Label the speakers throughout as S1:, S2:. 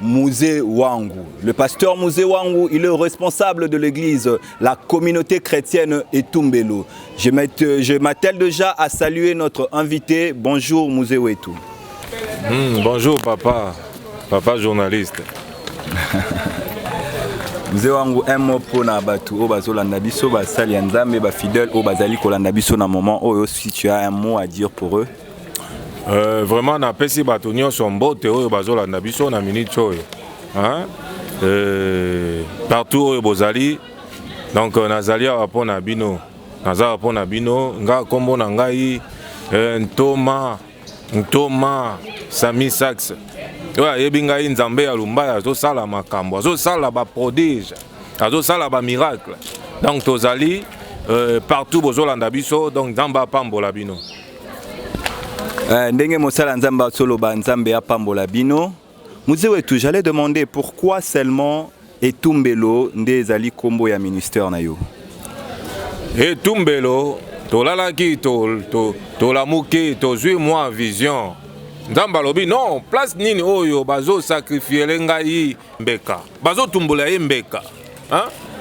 S1: Musée Wangu. Le pasteur Musée Wangu, il est responsable de l'église, la communauté chrétienne et Tumbelo. Je m'attelle déjà à saluer notre invité. Bonjour Musée Wetu. Hmm,
S2: bonjour papa, papa journaliste.
S1: mzee wangu un mot mpo na bato oyo bazolanda biso basali ya nzambe bafidèle oyo bazali kolanda biso na moment oyo si tu as un mot à dire pour eux Euh,
S2: vraiment napesi bato nyonso mbote oyo bazolanda biso na minute oyo euh, partout oyo bozali donc euh, nazali awa mpo na bino naza awa mpo na bino nga nkombo na ngai euh, ntoma ntoma sami sax oyo ayebi ngai nzambe ya lumbaya azosala makambo azosala baprodige azosala bamiracle donc tozali euh, partout bozolanda biso donc nzambe apambola bino Euh,
S1: ndenge mosala nzambe azoloba nzambe apambola bino muse wetu j'allais demander pourquoi seulement etumbelo nde ezali nkombo ya ministère na yo etumbelo
S2: tolalaki tolamuki to, to tozwi mwa vision nzambe alobi non place nini oyo bazosakrifiyele ngai mbeka bazotumbola ye mbeka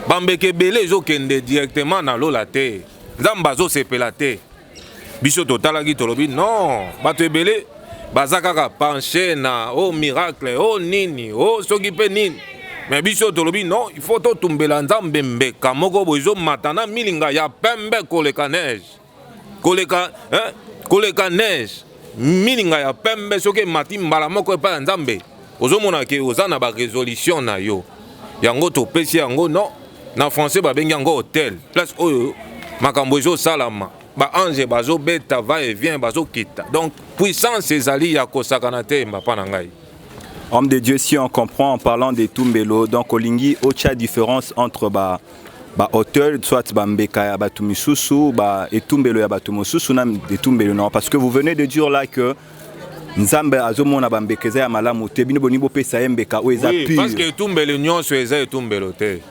S2: bambeka ebele ezokende directement na lola te nzambe azosepela te biso totalaki tolobi non bato ebele baza kaka penche na o oh, miracle o oh, nini o oh, soki mpe nini me biso tolobi non il faut totumbela nzambe mbeka moko boye ezomata na milinga ya pembe koleka neige koleka, eh, koleka neige milinga ya pembe soki emati mbala moko epai ya nzambe ozomona ke oza na baresolution na yo yango topesi yango no na français babengi yango hotel place oyo makambo ezosalama baange bazobeta va et vient bazokita donc puissance ezali ya kosakana te mbapa na ngai homme de dieu
S1: si on comprend en parlant de tumbelo donc olingi otia différence entre ba ba hôtels, soit ba mbeka ya batu misusu, ba etumbelo ya batu mosusu na etumbelo na parce que vous venez de dire là que nzambe azomona bambeka eza ya malamu te bino bolingi bopesa ye mbeka oyo eza pure parce que etumbelo nyonso
S2: eza etumbelo te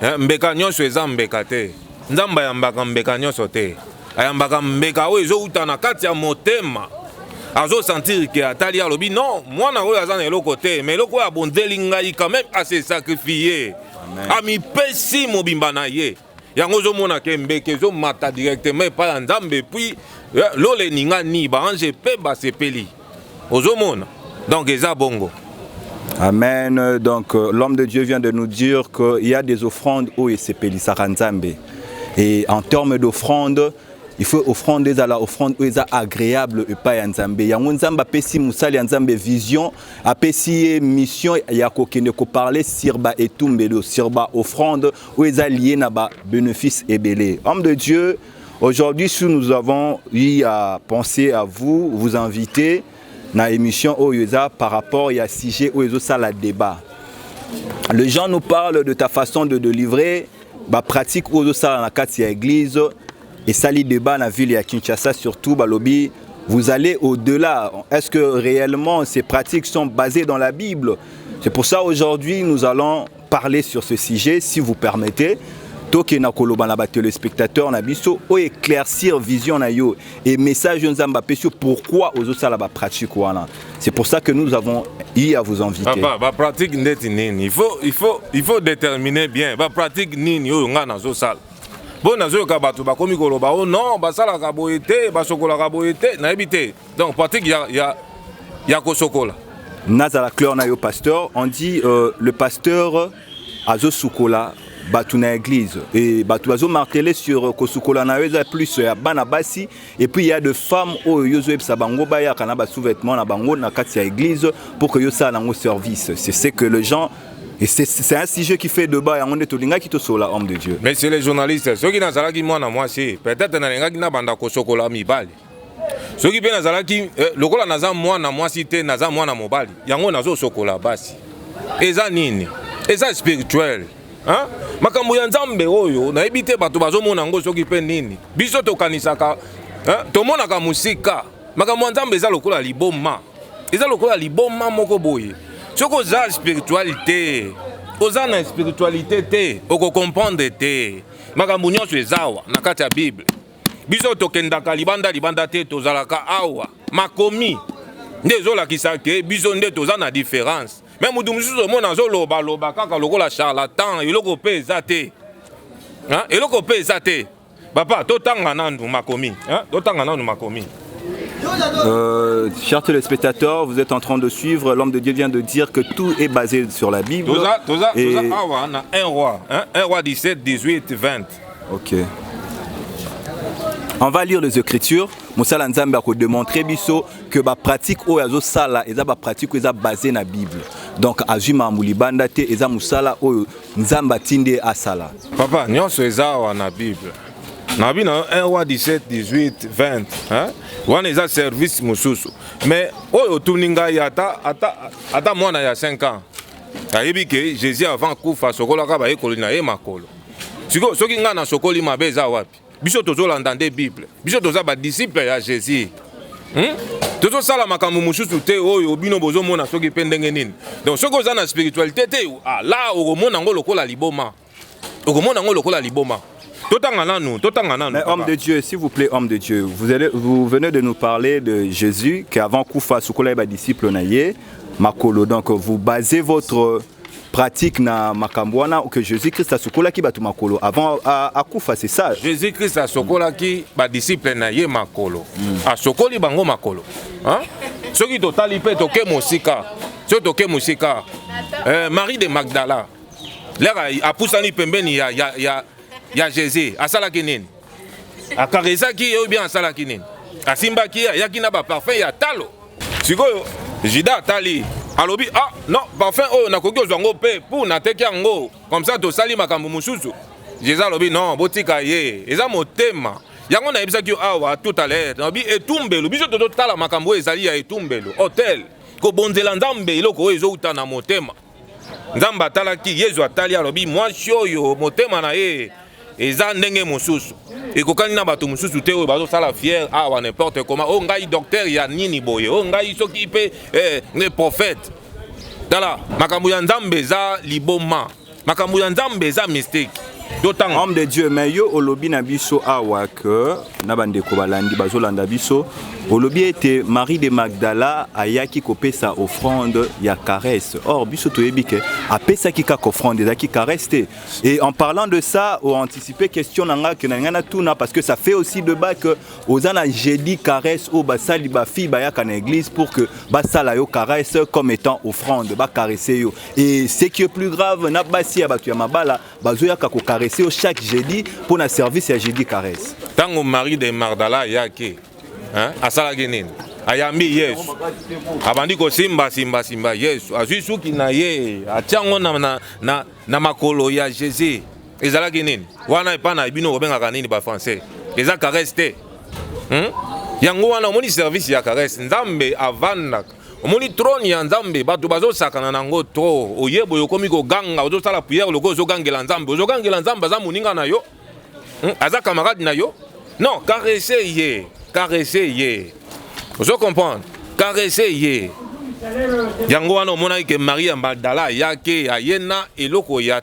S2: eh, mbeka nyonso eza mbeka te nzambe ayambaka mbeka nyonso te ayambaka mbeka oyo ezowuta na kati ya motema azosentire ke atali alobi non mwana oyo aza na eloko te ma eloko oyo abonzeli ngai quand même ase sacrifie amipesi mobimba na ye yango ozomona ke mbeke ezomata directement epai ya nzambe epuis eh, lola eningani baange mpe basepeli ozomona donc eza bongo Amen.
S1: Donc euh, l'homme de Dieu vient de nous dire qu'il y a des offrandes où il s'est payé Saranzambe. Et en termes d'offrandes, il faut offrande ezala offrande oyo eza agréable epai ya nzambe yango nzambe apesi mosali ya nzambe vision apesi ye mission ya kokende koparle sur ba etumbelo sur ba offrande oyo eza lie na ba bénéfice ebele homme de dieu aujourd'hui si nous avons eu à penser à vous vous inviter na émission oyo eza par rapport ya sujet oyo ezosala débat les gens nous parlent de ta façon de délivrer bapratique oyo ozosala na kati ya église Esali debat na ville ya Kinshasa surtout balobi vous allez au-delà. Est-ce que réellement ces pratiques sont basées dans la Bible C'est pour ça aujourd'hui nous allons parler sur ce sujet, si vous permettez. toke na koloba na batelespectateur na biso oyo éclaircir vision na yo et message oyo nzambe apesi yo pourquoi ozosala bapratique wana c'est pour ça que nous avons eu à vous inviter papa bapratique ndeti
S2: nini il faut, il faut, il faut déterminer bien bapratique nini oyo ngai nazosala mpo nazoyoka bato bakomi koloba o oh non basalaka boye te basokolaka boye te nayebi te donc pratique ya, ya, ya kosokola nazala cleur
S1: na yo pasteur on dit euh, le pasteur azosukola bato na église e bato bazomartele sur kosukola na yo eza plus ya bana basi Et puis il y a de femmes oyo yo zo yebisa bango bayaka na ba sous-vêtements na bango na kati ya église pour que yo sala nango service. C'est ce que les gens et c'est un sujet qui fait débat yango nde tolingaki tosola homme de Dieu. Monsieur le journaliste,
S2: soki nazalaki mwana mwasi, peut-être nalingaki nabanda kosokola mibali. soki mpe nazalaki eh, lokola naza mwana mwasi te naza mwana mobali yango nazosokola basi eza nini eza spirituel Hein? makambo ya nzambe oyo nayebi te bato bazomona yango soki mpe nini biso tokanisaka tomonaka mosika makambo ya nzambe eza lokola liboma eza lokola liboma moko boye soki oza spirituali te oza na spiritualité te okokomprendre te makambo nyonso ezawa na kati ya bible biso tokendaka libanda libanda te tozalaka awa makomi nde ezolakisa ke biso nde toza na différence me motu mosusu omona azoloba loba kaka lokola charlatan eloko mpe eza te eloko mpe eza te papa totanga nanu makomi totanga nanu makomi Euh,
S1: chers téléspectateurs, vous êtes en train de suivre. L'homme de Dieu vient de dire que tout est basé sur la Bible. Toza, toza, et... toza awa,
S2: na un roi, hein, un roi 17, 18, 20. Ok.
S1: On va lire les écritures. Moussala Nzambe a démontré biso que ba pratique oyo azo sala eza ba pratique oyo eza basée na Bible. Donc azui mambu libanda te eza musala oyo Nzambe atinde asala. Papa, nyonso eza
S2: wa na Bible. Na bino 1 wa 17, 18, 20, hein? Wana eza service mususu. Mais oyo otuni ngai ata ata ata mwana ya 5 ans. Ayebi que Jésus avant kufa sokolaka ba yekoli na ye makolo. sikoyo soki ngai nasokoli mabe eza wapi biso tozolanda nde bible biso toza badisiple ya jésus hmm? tozosala makambo mosusu te oyo bino bozomona soki mpe ndenge nini donc soki oza na spiritualité te ah, la okomona yango lokola liboma okomona yango lokola liboma totanga nanu totanga nanu mais homme de dieu
S1: s'il vous plaît homme de dieu vous, allez, vous venez de nous parler de jésus qu'avant kufa sukola ye badisciple na ye makolo donc vous basez votre pratique na makambo wana que jésus christ asukolaki bato makolo avant akufa c'est ça jésus christ asukolaki
S2: badisciple na ye makolo mm. asokoli bango makolo hein? soki totali mpe toke mosika soki toke mosika euh, marie de magdala lere apusani pembeni ya, ya, ya, ya jésus asalaki nini akaresaki ye ou bien asalaki nini asimbaki ye ayaki na baparfum ya talo sikoyo juda atali alobi ah non parfum oyo nakoki ozwa yango mpe mpo nateki yango comme ça tosali makambo mosusu jesus alobi non botika ye eza motema yango nayebisaki yo awa tout à l'heure nalobi etumbelo biso tozotala makambo oyo ezali ya etumbelo hotel kobonzela nzambe eloko oyo ezowuta na motema nzambe atalaki yezu atali alobi mwasi oyo motema na ye eza ndenge mosusu ekokani na bato mosusu te oyo bazosala fiere awa n'importe comment oyo oh, ngai docteur ya nini boye oyo oh, ngai soki mpe eh, ngai prophète tala makambo ya nzambe eza liboma makambo ya nzambe eza mistake dotanga homme de dieu mais yo
S1: olobi na biso awa ke na bandeko balandi bazolanda biso olobi ete marie de magdala ayaki kopesa offrande ya caresse or biso toyebi ke apesaki kaka offrande ezalaki caresse te et en parlant de ça oanticipe question na ngai ke na ngai natuna parce que ça fait aussi de bas ke oza na jeudi caresse oyo basali bafille bayaka na église pour que basala yo caresse comme étant offrande bacaresse yo Et ce qui est plus grave, na basi ya batu ya mabala bazoyaka ko caresser yo chaque jeudi mpo na service ya jeudi caresse. Tango Marie de
S2: Magdala ayaki, hein, asalaki nini? ayambi yesu abandi kosimba simba simba yesu azwi suki na ye atya yango na, na, na, na makolo ya jésus ezalaki nini wana epai na bino kobengaka nini bafrançais eza caresse te hmm? yango wana omoni service ya caresse nzambe avandaka omoni trone ya nzambe bato bazosakana nango tro oye boye okomi koganga ozosala priere lokola ozogangela nzambe ozogangela nzambe aza moninga na yo hmm? aza camarade na yo non caresse ye caresse ye ozo comprendre caresse ye yango wana omonaki ke maria magdala ayaki ayena eloko ya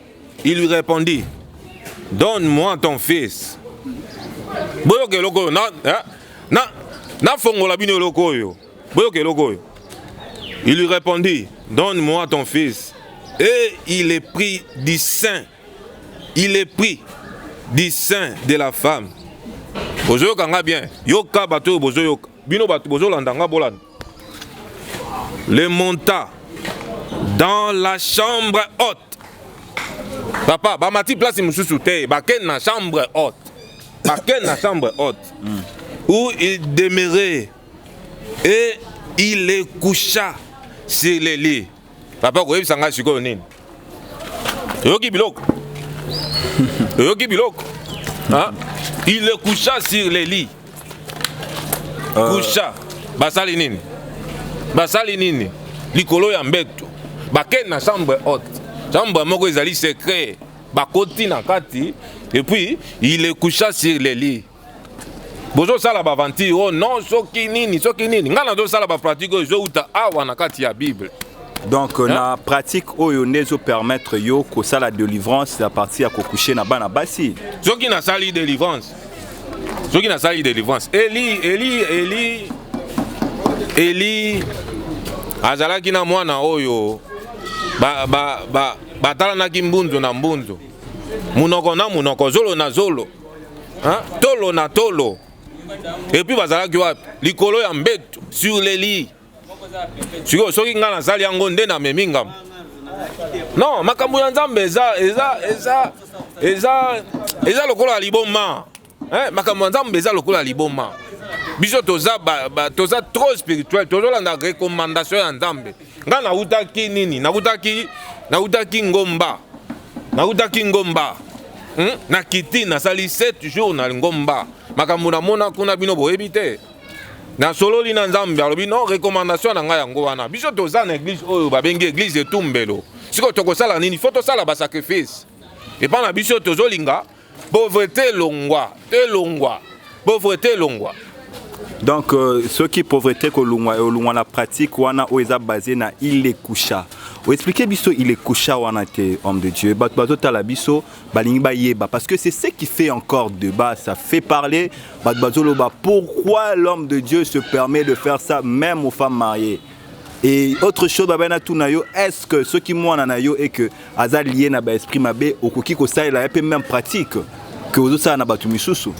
S2: Il lui répondit, Donne-moi ton fils. Boyoka eloko oyo na eh, na nafongola bino eloko oyo. Boyoka eloko oyo. Il lui répondit, Donne-moi ton fils. Et il est pris du sein. Il est pris du sein de la femme. Bozoyoka nga bien. Yoka bato oyo bozoyoka. Bino bato bozolanda nga bolanda. Le monta dans la chambre haute. Papa, ba mati place mususu te, ba ken na chambre haute. Ba ken na chambre haute. Mm. Où il demeurait et il est coucha sur les lits. Papa koyebisa ngai sikoyo nini? Oyoki biloko? Oyoki biloko? Hein? Il le coucha sur le lit. Euh. Coucha. Basali nini? Basali nini? Likolo ya mbeto. Bakei na chambre haute. Chambre moko ezali secret. Bakoti na kati et puis il le coucha sur le lit. bozosala baaventure oh non soki nini soki nini ngai nazosala bapratique oyo ezowuta awa na kati ya bible donc hein? na
S1: pratique oyo nde ezopermettre yo kosala délivrance à partir ya kokouche na bana basi soki nasali
S2: délivrance soki nasali délivrance eli eli eli eli azalaki na mwana oyo batalanaki ba, ba, ba, ba mbunzo na mbunzo munoko na munoko zolo na zolo hein? tolo na tolo et puis bazalaki wapi likolo ya mbetu sur les lits sikoyo soki ngai nasali yango nde namemi ngambo non makambo ya nzambe eza eza eza eza eza lokola ya liboma eh, makambo ya nzambe eza lokola ya liboma biso toza, ba, ba, toza trop spirituel tozolanda recommandation ya nzambe nga nautaki nini nautaki nautaki ngomba nautaki ngomba hmm? na kiti nasali 7 jours na ngomba makambo namona kuna bino boyebi te nasololi na nzambe alobi no recommandation na ngai yango wana biso toza na eglise oyo babengi eglise etumbelo sikoyo tokosala nini fo tosala basacrifice epai na biso tozolinga Pauvreté elongwa, elongwa. Pauvreté elongwa. Donc
S1: euh, soki pauvreté kolongwa elongwa na pratique wana oyo eza basé na ilekusha. Expliquez biso ilekusha wana te homme de Dieu. Bato bazotala biso balingi bayeba parce que c'est ce qui fait encore débat, ça fait parler. Bato bazoloba pourquoi l'homme de Dieu se permet de faire ça même aux femmes mariées. Et autre chose, baba na tuna yo, est-ce que ce qui mwana na yo et que aza lié na ba esprit mabe okoki ko salela pe même pratique que ozo sala na batu misusu?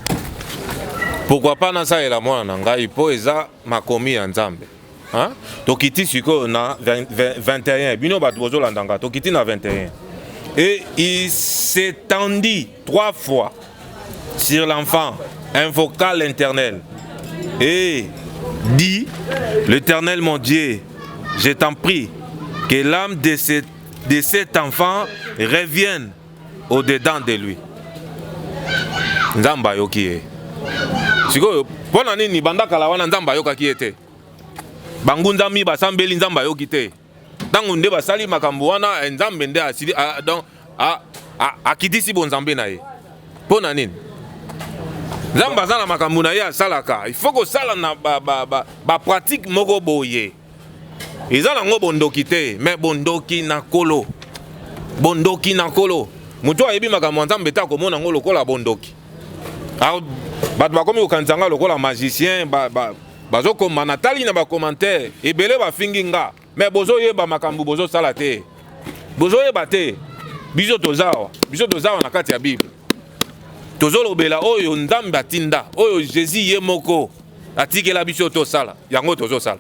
S2: Pourquoi pas na salela mwana na ngai po eza makomi ya Nzambe. Hein? Tokiti sikoyo na 21 bino bato bozolanda nga tokiti na 21 et il s'étendit Trois fois sur l'enfant, invoqua l'Éternel et dit, l'Éternel mon Dieu, je t'en prie, que l'âme de cet, de cet enfant revienne au-dedans de lui. Nzamba ayoki ye sikoyo mpo na nini banda kala wana nzambe ayokaki ye te bangundami basambeli nzambe ayoki te ntango nde basali makambo wana eh, nzambe nde asili ah, donc ah, ah, akitisi bonzambe na ye mpo na nini nzambe aza na makambo na ye asalaka ifo kosala na bapratike ba, ba, ba moko boye eza nango bondoki te me bondoki na kolo bondoki na kolo moto ayebi makambo ya nzambe te akomona yango lokola bondoki bato bakomi kokanisa ngai lokola magicien ba, ba, bazo koma na tali na ba commentaire ebele ba fingi nga mais bozo yeba makambu bozo sala te bozo yeba te biso tozawa biso tozawa na kati ya bible tozo lobela oyo nzambe atinda oyo jesus ye moko atikela biso tosala yango tozo sala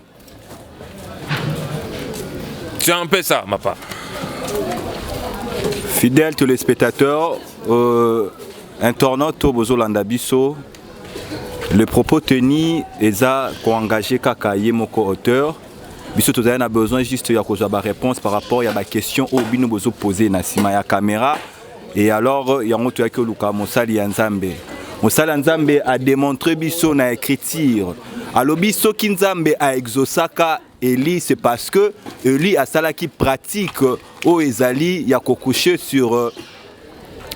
S2: c'est un peu ça ma part
S1: fidèle téléspectateur euh, internaute to bozolanda biso Le propos tenu eza ko engager kaka ye moko auteur biso tozali na besoin juste ya kozwa ba réponse par rapport ya ba question oyo bino bozo pose na nsima ya camera et alors yango toyaki koluka mosali ya nzambe mosali ya nzambe a démontre biso na écriture alobi soki nzambe a exosaka Eli c'est parce que Eli asalaki pratique oyo ezali ya ko coucher sur euh,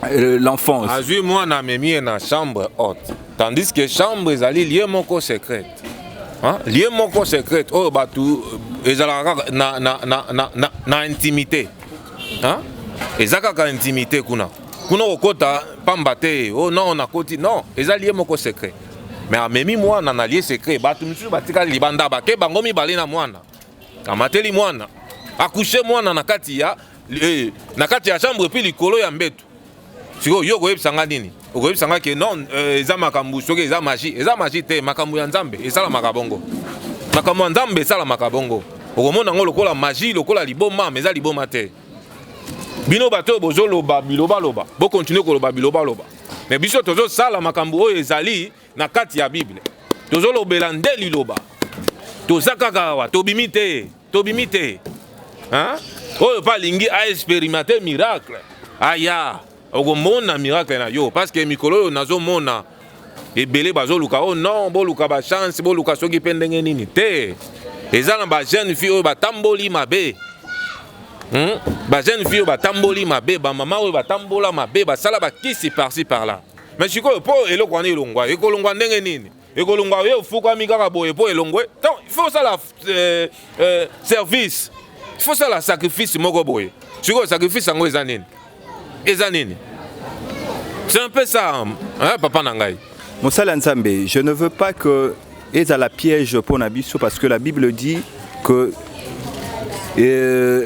S1: euh, l'enfance. azwi mwana
S2: amemi ye na chambre haute tandis que chambre ezali lie moko secrète Hein? lie moko secrète oyo bato euh, ezalaka kaka na, na, na, na, na, na intimité Hein? eza kaka intimité kuna kuna okokota pamba te oh non nakoti non eza lie moko secret mais amemi mwana na lie secret bato misusu batikali libanda bake bango mibale na mwana amateli mwana akushe mwana na kati ya eh, na kati ya chambre epuis likolo ya mbeto sikoyo yo okoyebisa nga nini okoyebisa nga ke non eh, eza makambo soki eza magi eza magi te makambo ya nzambe esalamaka bongo makambo ya nzambe esalamaka bongo okomona yango lokola magi lokola liboma ma eza liboma te bino bato oyo bozoloba bilobaloba bokontinue koloba bilobaloba me biso tozosala makambo oyo ezali na kati ya bible tozolobela nde liloba toza kaka awa tobimi te tobimi te oyo mpe alingi aexperimente miracle aya okomona miracle na yo parce que mikolo oyo nazomona ebele bazoluka o oh non boluka bachance boluka soki mpe ndenge nini te eza na bajeune fille oyo batamboli mabe hmm? bajeune fille oyo batamboli mabe bamama oyo batambola mabe basala bakisi parci par là mais sikoyo mpo eloko wana elongwa ekolongwa ndenge nini ekolongwa oye ofukwami kaka boye mpo elongwe donc il faut osala euh, euh, service il faut osala sacrifice moko boye sikoyo sacrifice yango eza nini eza nini c'est un peu ça hein, papa na ngai mosali ya nzambe
S1: je ne veux pas que ezala piège mpo na biso parce que la bible dit que euh,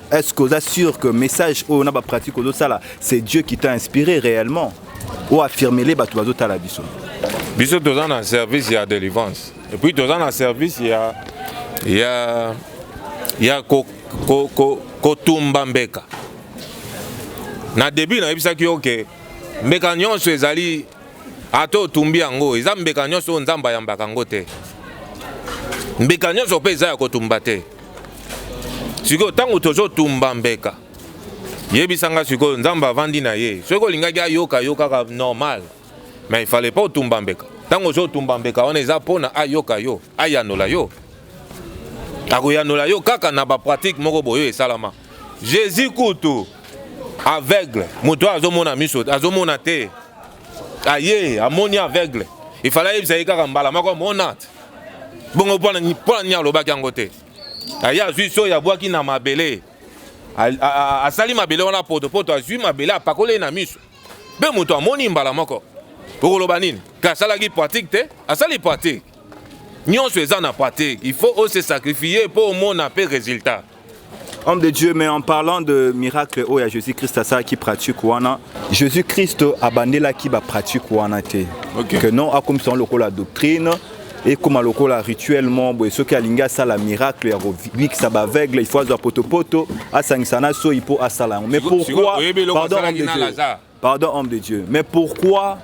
S1: Est-ce que vous êtes sûr que message oyo na ba pratique ozo sala c'est Dieu qui t'a inspiré réellement ou affirmer les bato bazo tala biso? Biso toza
S2: na service ya délivrance et puis toza na service ya ya ya ko ko ko kotumba mbeka. Na début nayebisaki yo ke mbeka nyonso ezali ata otumbi yango eza mbeka nyonso oyo nzambe ayambaka yango te mbeka nyonso mpe eza ya kotumba te sikoyo ntango tozotumba mbeka yebisa nga sikoyo nzambe avandi na ye soki olingaki ayoka yo kaka normal mais ifale mpe otumba mbeka ntango ozotumba mbeka wana eza mpona ayoka yo ayanola yo akoyanola yo kaka na bapratique moko boyo esalama jésus kutu aveugle moto oyo azomona miso azomona te aye amoni aveugle efala ayebisa ye kaka mbala moko amona te bongo mpo na nini alobaki yango te aye azwi soyi abwaki na mabele asali mabele wana potopoto azwi mabele apakoli ye na miso mpe moto amoni mbala moko okoloba nini ke asalaki pratique te asali pratique Nionso eza na pratique. Il faut aussi se sacrifier pour omona pe résultat. Homme de
S1: Dieu, mais en parlant de miracle oyo ya Jésus-Christ asalaki pratique wana, Jésus-Christ abandelaki ba pratique wana te. Okay. Que non akomisa yango lokola doctrine ekoma lokola rituellement boye soki alingi asala miracle ya kobikisa baaveugle il faut azwa potopoto asangisa na soyi mpo asala yango mais pourquoi pardon Pardon homme de Dieu, mais pourquoi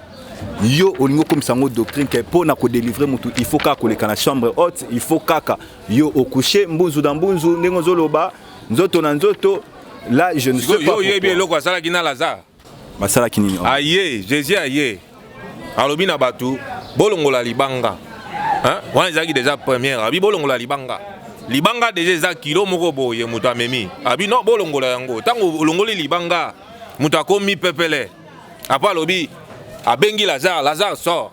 S1: yo olingi okomisa yango doctrine ke mpo na kodelivre motu il faut kaka koleka na chambre haute il faut kaka yo okushe mbunzu na mbunzu ndenge ozoloba nzoto na nzoto la je ne sais pas oyebi eloko asalaki na
S2: lazare basalaki nini
S1: aye jésus aye
S2: alobi na bato bolongola libanga wana ezalaki deja première abi bolongola libanga libanga deja eza kilo moko boye moto amemi abi no bolongola yango ntango olongoli libanga moto akomi pepele apo alobi abengi lazare lazare sor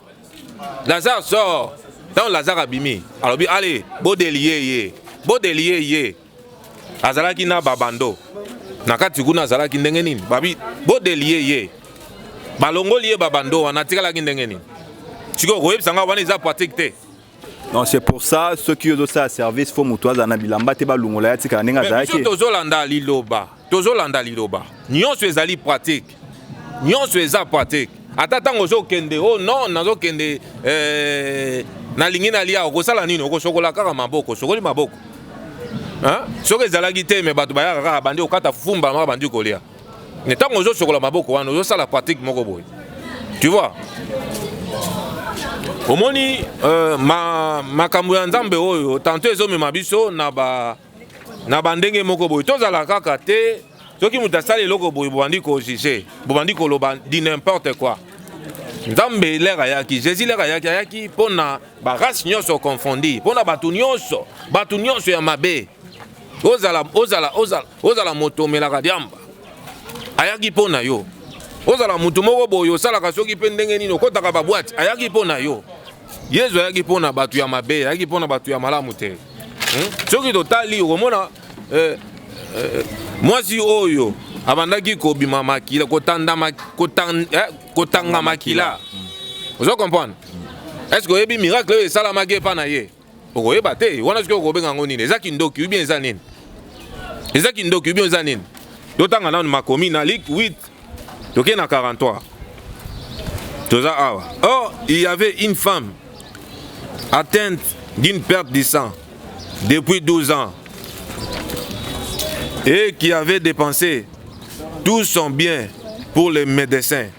S2: lazare sor ntango lazare abimi alobi ale bodelie ye bodelie ye azalaki na babando na kati kuna azalaki ndenge nini babi bodelie ye balongoli ye babando wana atikalaki ndenge nini sikoyo koyebisa ngai wana eza pratique te Non, c'est pour
S1: ça ceux qui ont ça service faut mutu aza na bilamba te balungola ya tika ndenge azalaki. Tozo landa liloba,
S2: tozo landa liloba. Nyonso ezali pratique. Nyonso eza pratique. Ata tango ozo kende, oh non, nazo kende euh nalingi nalia okosala nini? Okosokola kaka maboko, sokoli maboko. Hein? Soki ezalaki te mais bato bayaka kaka bandi okata fumba maka bandi kolia. mais ntango ozosokola maboko wana ozosala pratique moko boye tu vois omoni euh, ma, makambo ya nzambe oyo tanto ezomema biso na ba na bandenge moko boye tozala kaka te soki moto asali eloko boye bobandi kojuge bobandi koloba di n'importe quoi nzambe lere ayaki jésus lere ayaki ayaki mpo na barace nyonso confondi mpo na bato nyonso bato nyonso ya mabe ozala ozala ozala ozala moto omelaka diamba ayaki mpo na yo ozala moto moko boye osalaka soki mpe ndenge nini okotaka babwate ayaki mpo na yo yezu ayaki mpo na bato ya mabe ayaki mpo na bato ya malamu te hmm? soki totali okomona eh, eh, mwasi oyo abandaki kobima makila kotanga eh, makila ozo comprendre est ce que oyebi miracle oyo esalamaki epa na ye okoyeba te wana soki okobenga yango nini eza kindoki ubien eza nini eza kindoki ubien eza nini totanga nanu makomi na lik 8 tokei na 43 toza awa or il y avait une femme atteinte d'une perte du sang depuis 12 ans et qui avait dépensé tout son bien pour les médecins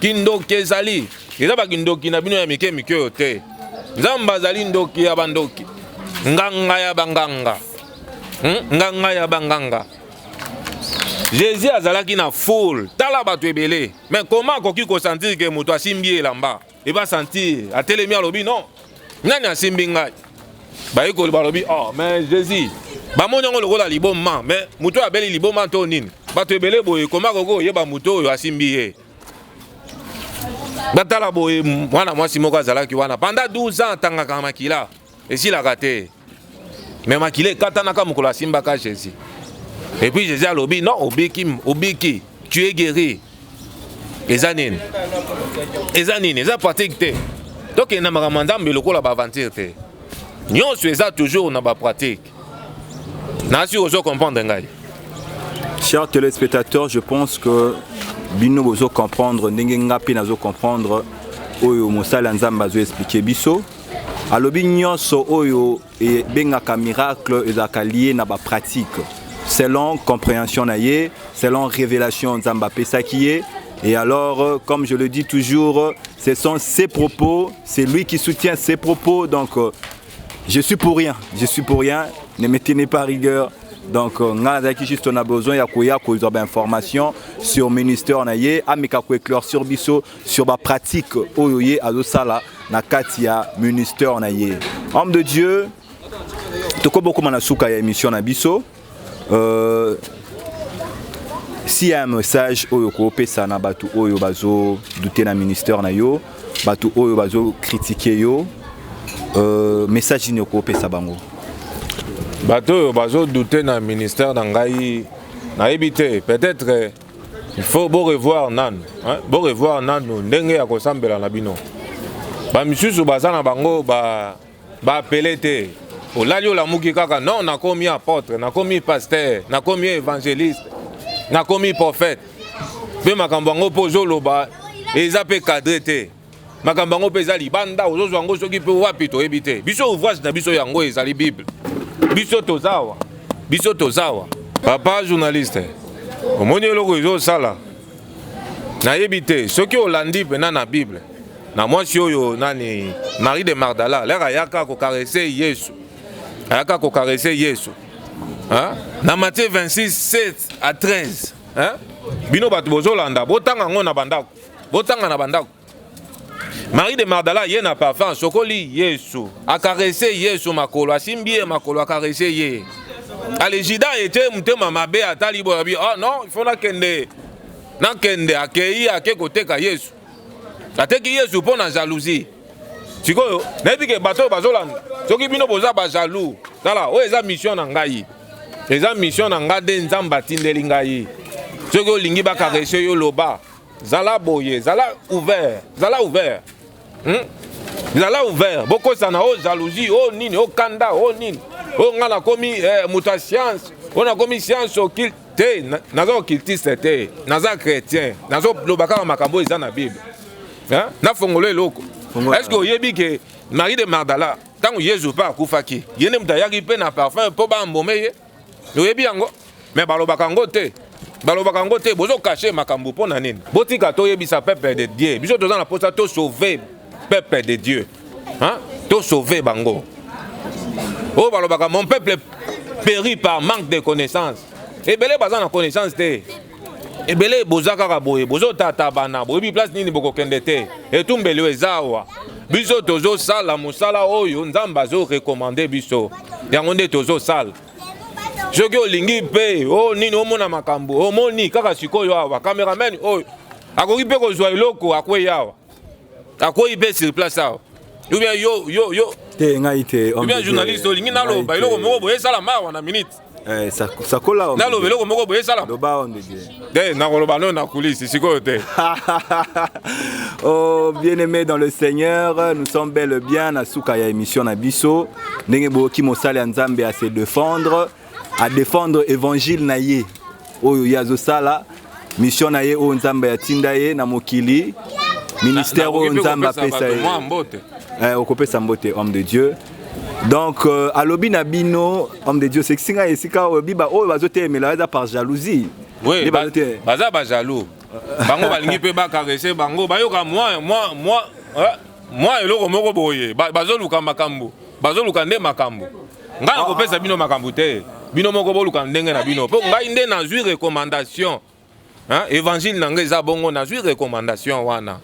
S2: Kindoki ezali eza bakindoki na bino ya mike mike oyo te. Nzambe azali ndoki ya bandoki, nganga ya banganga, hmm? nganga ya banganga. Jésus azalaki na foule, tala bato ebele, mais comment akoki kosentir ke moto asimbi elamba eba sentir atelemi alobi non nani asimbi ngai bayekoli balobi oh mais jésus bamoni yango lokola liboma mais moto oyo abeli liboma to nini bato ebele boye koma koki oyeba moto oyo asimbi ye batala boye mwana mwasi moko azalaki wana panda 12 ans atangaka makila esilaka te mais makila ekatanaka mokolo asimbaka jésus et puis jésus alobi non obiki obiki tu es guéri eza nini eza nini eza pratique te tokenda makambo ya nzambe lokola baaventure te nyonso eza toujours na bapratique nasi ozo comprendre ngai chers
S1: téléspectateurs je pense que bino bozo comprendre ndenge nga mpe nazo comprendre oyo mosali ya nzambe azo explike biso Alobi nyonso oyo ebengaka miracle ezalaka lie na ba pratique selon comprehension na ye selon révélation nzambe apesaki ye et alors euh, comme je le dis toujours euh, ce sont ses propos c'est lui qui soutient ses propos donc euh, je suis pour rien je suis pour rien ne me tenez pas rigueur donc euh, nga nazalaki juste on a besoin ya koya kozwa bainformation sur ministère na ye ameka koéclaircir biso sur ba pratique oyo ye azosala na kati ya ministère na ye homme de dieu tokoki bokoma na suka ya émission na biso euh, si ya message oyo okopesa na bato oyo bazodute na ministère na yo bato oyo bazokritike yo euh, message nini okopesa bango
S2: bato oyo bazodute na ministère na ngai nayebi te peut-être il faut bo revoir nanu hein? bo revoir nanu ndenge ya kosambela na bino bamisusu baza na bango baapele ba te olali olamuki kaka non nakomi apotre nakomi paster nakomi évangéliste nakomi prophète mpe makambo yango mpo ozoloba eza mpe cadre te makambo yango mpe eza libanda ozozwa yango soki mpe wapi toyebi te biso ouvrage na biso yango ezali bible biso tozawa biso tozawa papa journaliste omoni eloko ezosala nayebi te soki olandi mpena na bible na mwasi oyo nani marie de mardala lere ayaka kokarese yesu ayaka kokarese yesu ha? na matie 26 7 a 13 hein? bino bato bozolanda botanga yango na bandako Botanga na bandako. Marie de Magdala ye na parfum asokoli Yesu, akarese Yesu makolo, asimbi ye makolo, akarese ye. Alejida ete motema mabe atali boye abi, oh non, il faut nakende nakende, akei ake koteka Yesu, ateki Yesu mpo na jalousie. sikoyo nayebi ke bato oyo bazolanda soki bino boza bajalou tala oyo eza mission na ngai eza mission na ngai nde nzambe atindeli ngai soki olingi bakarese yo loba Zala boye, zala ouvert, zala ouvert. Hmm? Zala ouvert, bokosana o oh, jalousie, o oh, nini, o oh, kanda, o nini. O nga nakomi eh, moto ya science, o nakomi science occulte. Te, naza occultiste te, naza chrétien, nazo loba kaka makambo eza na Bible. Hein? Na fongolo eloko. Est-ce que oyebi que Marie de Magdala, ntango Yesu mpe akufaki, ye nde moto ayaki mpe na parfum mpo bambome ye? oyebi yango me balobaka yango te balobaka yango te bozokashe makambo mpo na nini botika toyebisa peuple de dieu biso toza na mposa tosauve peuple de dieu tosauve bango oyo oh, balobaka mon peuple péri par manque de connaissance ebele baza na connaissance te ebele boza kaka boye bozotata bana boyebi place nini bokokende te etumbeli oyo eza awa biso tozosala mosala oyo nzambe azorekomande biso yango nde tozosala soki olingi mpe o oh, nini omona makambo omoni kaka sikoyo awa cameraman oyo akoki mpe kozwa eloko akwei awa akwei mpe sur place awa ou bien yo yo yo te ngai te
S1: ou bien journaliste olingi
S2: naloba eloko moko boye esala mawa na minute Eh,
S1: naloba eloko moko boye
S2: esalanakoloba
S1: no
S2: na kulisi sikoyo te oh,
S1: bien aimé dans le seigneur nous sommes bel et bien na suka ya émission na biso ndenge boyoki mosali ya nzambe à se défendre à défendre évangile na ye oyo ye azosala mission na ye oyo nzambe atinda ye na mokili ministère oyo nzambe apesa ye eh, okopesa mbote homme de dieu donc euh, alobi na bino homme de dieu osekisi ngai esika oyo biba oyo bazotelemela eza par jalousie oui,
S2: baza bajaloux bango balingi mpe bakarese bango bayoka mwa mwa mwa eh, mwa eloko moko boye bazoluka makambo bazoluka nde makambo ngai nakopesa bino makambo te bino moko boluka ndenge na bino mpo ngai nde nazwi recommandation évangile na ngai eza bongo nazwi recommandation wana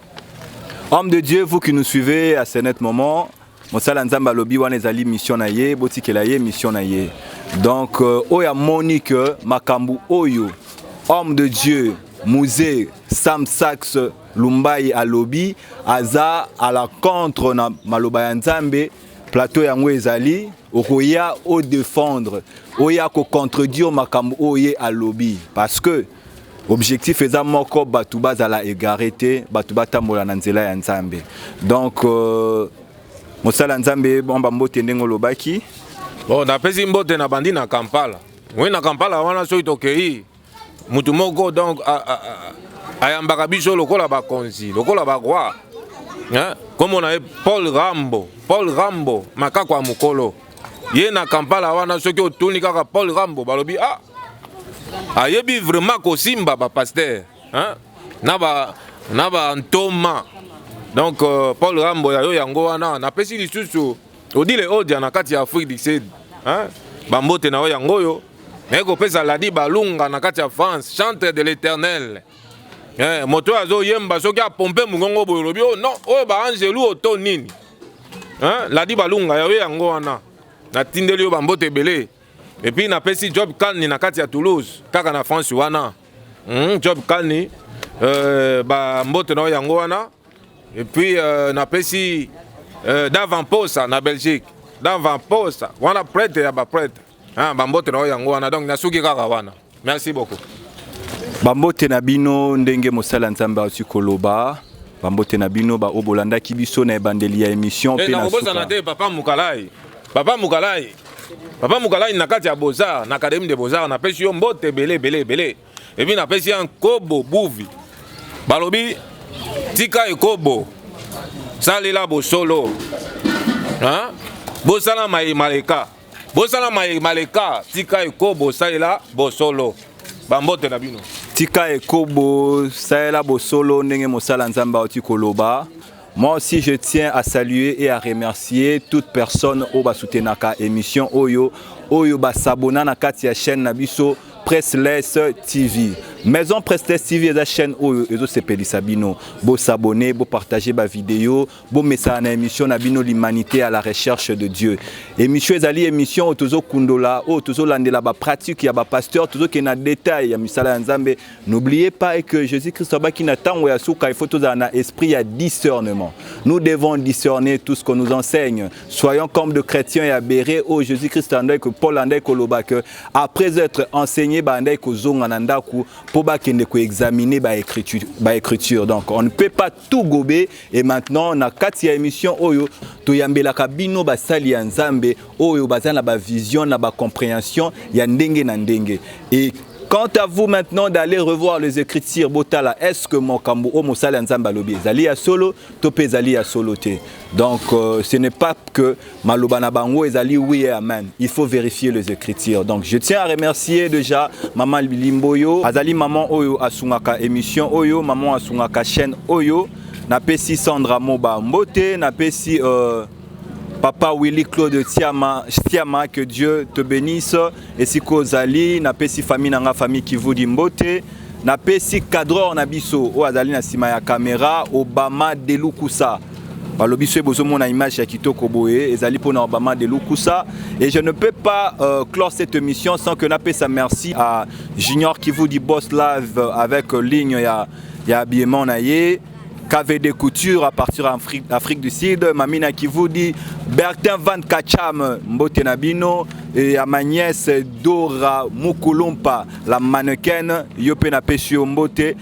S2: homme
S1: de dieu vous qui nous suivez à ce net moment mosala ya nzambe alobi wana ezali mission na ye botikela ye mission na ye donc euh, oyo amoni ke makambo oyo homme de dieu musée sam saxe lumbai alobi aza à la contre na maloba ya nzambe plateau yango ezali okoya o défendre oya ko contredire makambo oyo ye alobi parce que objectif eza moko bato bazala egare te bato batambola na nzela ya nzambe donc euh, mosala nzambe bamba mbote ndenge olobaki bon napesi
S2: mbote na bandi na kampala oui na kampala wana soki tokei mutu moko donc ayambaka biso lokola bakonzi lokola baroi nkombo na ye paul rambo paul rambo makako ya mokolo ye na kampala wana soki otuni kaka paul rambo balobi ah ayebi vraiment kosimba bapaster na ba na bantoma donc euh, paul rambo ya yo yango wana napesi lisusu Odile Odia na kati ya Afrique du Sud. Hein? Bambote na yo yango oyo. Naye kopesa Ladi Balunga na kati ya France, chantre de l'Éternel. Eh, moto oyo azoyemba soki apompe mongongo boye olobi oh, non oyo baangelu oyo to nini eh, ladi balunga yayo yango wana natindeli yo bambote ebele epuis napesi job kalni na kati ya toulouse kaka na france wana mm, job kalni euh, bambote na yo yango wana Et puis euh, napesi euh, Davan Posa na Belgique. Davan Posa, wana prêtre ya ba prêtre. Ah, ba mbote na yango wana donc nasuki kaka wana. Merci beaucoup. Ba mbote
S1: na bino ndenge mosala Nzambe auti koloba. Ba mbote na bino ba obolandaki biso na ebandeli ya émission eh, pe na suka. Eza na te papa Mukalai.
S2: Papa Mukalai. Papa Mukalai na kati ya Beaux-Arts, na Académie des Beaux-Arts, na pesi yo mbote belé belé belé. epi napesi ya nkobo buvi balobi tika ekobo salela bosolo ha? bosala maye maleka bosala maye maleka tika ekobo salela bosolo bambote na bino tika ekobo
S1: salela bosolo ndenge mosala nzambe auti koloba Moi aussi je tiens à saluer et à remercier toute personne oyo basoutenaka émission oyo oyo basabona na kati ya chaîne na biso Pressless TV. Maison Pressless TV eza chaîne oyo ezosepelisa bino. Bo s'abonner, bo partager ba vidéo, bo messana na émission na bino l'humanité à la recherche de Dieu. Émission ezali émission oyo tozo kundola, oyo tozo landela ba pratique ya ba pasteurs, tozo ke na détail ya misala ya Nzambe, N'oubliez pas que Jésus-Christ abaki na tango ya suka, il faut tous un esprit à discernement. Nous devons discerner tout ce qu'on nous enseigne. Soyons comme de chrétiens et abérés. Oh Jésus-Christ andai que Paul andai que loba que après être enseigné ba andai que zonga na ndaku pour ba kende ko examiner ba écriture, ba écriture. Donc on ne peut pas tout gobe et maintenant na kati ya émission oyo toyambelaka bino basali ya nzambe oyo baza na bavision na bacomprehension ya ndenge na ndenge et Quant à vous maintenant d'aller revoir les écritures botala est-ce que mokambo o mosali ya Nzambe alobi ezali ya solo to pe ezali ya solo te. Donc euh, ce n'est pas que Maloba na bango ezali oui et amen. Il faut vérifier les écritures. Donc je tiens à remercier déjà maman Limboyo, azali maman oyo asungaka émission oyo, maman asungaka chaîne oyo. Na pesi Sandra Moba Mbote, na pesi euh, Papa Willy Claude Tiama, Tiama, que Dieu te bénisse. Et si Kozali, na pesi famille nanga famille Kivudi Mbote. napesi cadreur na biso oyo azali na nsima ya kamera obama delukusa balobi soki bozomona image ya kitoko boye ezali mpona obama de lukusa et je ne peux pas euh, clore cette émission sans que napesa merci à junior kivu du boss live euh, avec euh, ligne ya, ya habillement na ye KVD Couture à partir d'Afrique Afrique du Sud, Mamina Kivudi, Bertin Van Kacham, Mbote Nabino, et à ma nièce Dora Mukulumpa, la mannequin, Yope Napesio Mbote,